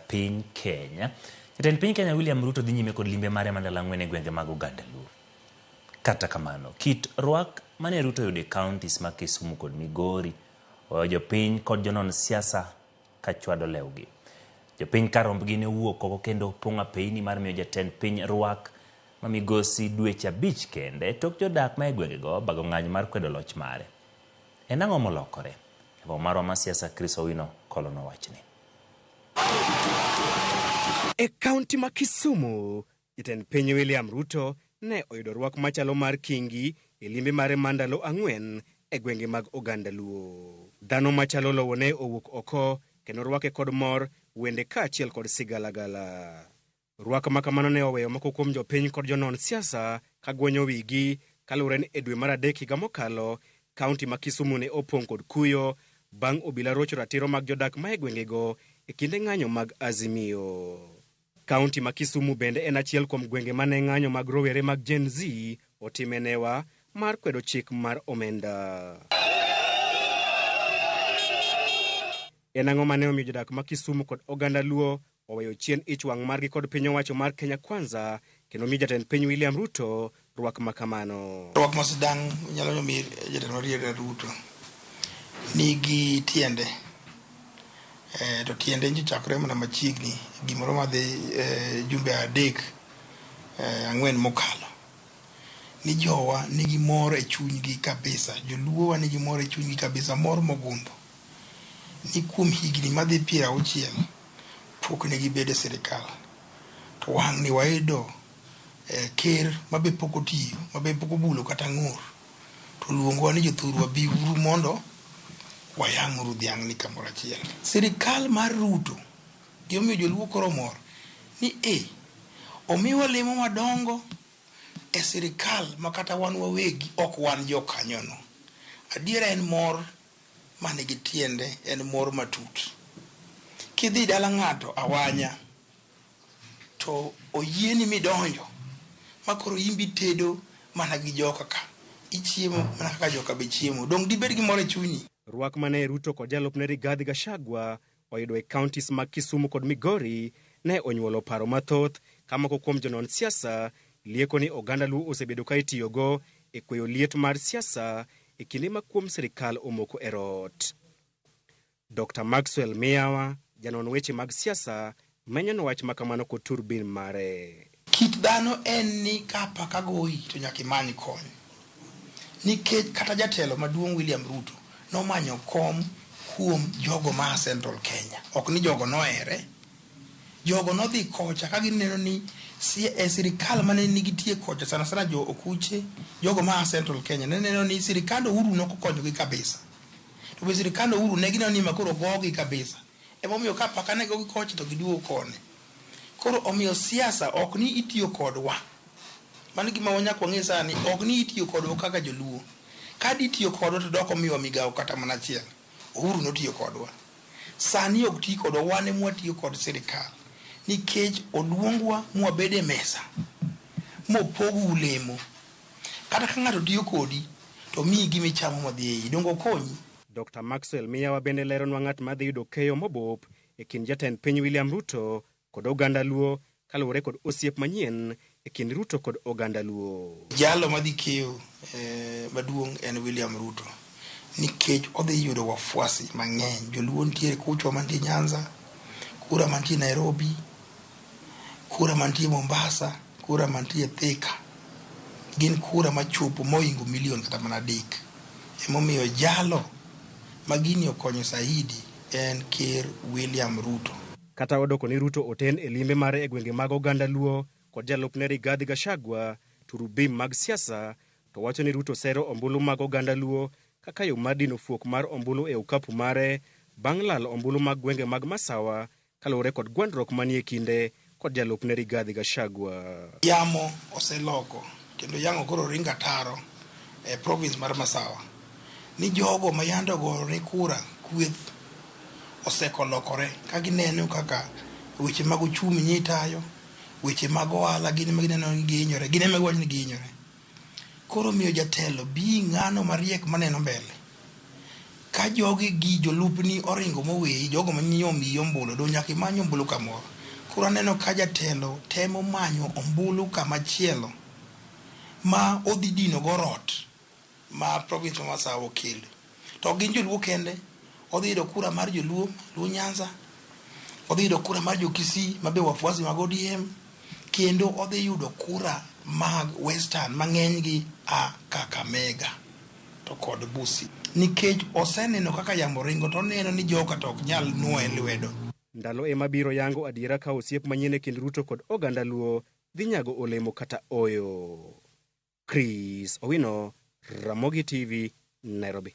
piny Kenya. Jatend piny Kenya William Ruto dhi nyime kod limbe mare ma ndalo ang'wen e gwenge mag oganda Luo. Kata kamano, kit rwak mane Ruto oyudo e counties ma Kisumu kod Migori oweyo jopiny kod jonon siasa ka chwado lewgi. Jopiny ka rombgi ne owuok oko kendo opong' apeyini mar miyo jatend piny rwak ma migosi dweche abich kende tok jodak ma e gwengego bago ng'anyo mar kwedo loch mare. En ang'o molokore? Jagong' marwa ma siasa Chris Owino kolonwa wachni. E kaunti ma Kisumu, jatend piny William Ruto ne oyudo rwak machalo mar kingi e limbe mare ma ndalo ang'wen e gwenge mag oganda Luo. Dhano machalo lowo ne owuok oko kendo rwake kod mor, wende kaachiel kod sigalagala. Rwak ma kamano ne oweyo moko kuom jopiny kod jonon siasa ka gwenyo wigi kaluwore ni e dwe mar adek higa mokalo, kaunti ma Kisumu ne opong' kod kuyo bang' obila rocho ratiro mag jodak ma e gwengego e kinde ng'anyo mag Azimio. Kaunti ma Kisumu bende en achiel kuom gwenge ma ne ng'anyo mag rowere mag Gen Z otime newa mar kwedo chik mar omenda. En ang'o ma ne omiyo jodak ma Kisumu kod oganda Luo oweyo chien ich wang' margi kod piny owacho mar Kenya Kwanza kendo omi jatend piny William Ruto rwak ma kamano. Rwak ma sidang' nyalo ni omi jatend William Ruto nigi tiende eh, to tiende nyo chakore mana machiegni gimoro madhi eh, jumbe adek eh, ang'wen mokalo ni jowa nigi mor e chunygi kabisa, joluowa nigi mor e chunygi kabisa, mor mogundho. ni kuom higni madhi piero auchiel pok ne gibedo e sirkal to wang'ni wayudo eh, ker mabe pok otiyo mabe pok obulo kata ng'ur to luongowa ni jothurwa biuru mondo wayang'uru dhiang'ni kamoro achiel sirkal mar ruto gimomiyo joluo koro mor ni e omiwa lemo madongo e sirkal ma kata wan wawegi ok wan jokanyono adiera en mor mani gi tiende en mor matut. Kidhi dala ng'ato awanya to oyieni midonjo ma koro in be itedo mana gi joka ka, ichiemo mana kaka joka be chiemo. Donge dibed gi mor e chunyi? Rwak mane Ruto kod jalupne Rigathi Gachagua oyudo e counties mag Kisumu kod Migori ne onyuolo paro mathoth ka moko kuom jonon siasa lieko ni oganda Luo osebedo ka itiyogo e kweyo liet mar siasa e kinde ma kuom sirikal omoko e rot. Dokta Maxwell Miyawa, janon weche mag siasa Menyo no wach makamano kod turbin mare. Kit dhano en ni ka apaka goyi to nyaka imany kony. Nikech kata jatelo maduong' William Ruto nomanyo kom kuom jogo ma a Central Kenya. Ok ni jogo nohere. Jogo nodhi kocha ka gineno ni sirikal mane nigitie kocha sana sana jo Okuche, jogo ma a Central Kenya ne neno ni sirikand Uhuru ne ok okonyogi kabisa. To be sirikand Uhuru ne gineno ni ma koro ogogi kabisa. Emomiyo ka apaka nego gi koch to giduogo koni. Koro omiyo siasa ok ni itiyo kodwa. Mano gima wanyaka wang'e sani, ok ni itiyo kodwa kaka joluo. Ka ditiyo kodwa to dok omiwa migawo kata mana achiel. Uhuru notiyo kodwa. Sani ok ti kodwa, wan ema watiyo kod sirkal. Nikech oluongwa ma wabed e mesa, ma opogwu lemo. Kata ka ng'ato tiyo kodi, to omiyi gima ichamo ma dhi e iyi. Donge okonyi? Dokta Maxwell Miyawa bende leronwa ng'at ma dhi yudo keyo mobup e kind jatend piny William Ruto kod oganda Luo kaluwore kod osiep manyien e kind Ruto kod oganda Luo. Jalo madhi keyo maduong' en William Ruto nikech odhi yudo wafuasi mang'eny. Joluo nitiere kucho mantie Nyanza, kura mantie Nairobi. Kura mantie Mombasa, kura mantie Thika gin kura machopo moingo milion kata mana adek. Emomiyo jalo ma gini okonyo saidi en Ker William Ruto. Kata odoko ni Ruto oten e limbe mare e gwenge mag oganda Luo kod jalupne Rigathi Gachagua, turubim mag siasa to wacho ni Ruto sero ombulu mag oganda Luo kaka yo mar dino fuok mar ombulu e okapu mare bang' lalo ombulu mag gwenge mag Masawa Kaluwore kod gwandruok manie kinde kod jalupne Rigathi Gachagua. Yamo oseloko kendo yang'o koro ringo ataro e province mar Masawa ni jogo ma yande ogone kura kweth oseko lokore ka gineno kaka weche mag ochumi nye itayo, weche mag ohala gin ema gineno ni gihinyore, gin ema giwacho ni gihinyore. Koro omiyo jatelo bii ng'ano mariek maneno mbele. Ka jogi gi jolupni oringo moweyi jogo manyinyo omiyi ombulu do nyaka imany ombulu kamoro. Koro aneno ka jatelo temo manyo ombulu kamachielo ma odhi dino go rot ma province ma masawa okelo. To ok gin joluo kende, odhi yudo kura mar joluo, Luo Nyanza, odhi yudo kura mar jo Kisii ma be wafuasi mag ODM, kendo odhi yudo kura mag Western ma ng'enygi a Kakamega to kod Busia. Nikech oseneno kaka yamo ringo to oneno ni joka to ok nyal nwoye lwedo. Ndalo ema biro yango adiera ka osiep manyien e kind Ruto kod oganda Luo dhi nyago olemo kata ooyo. Chris Owino, Ramogi TV, Nairobi.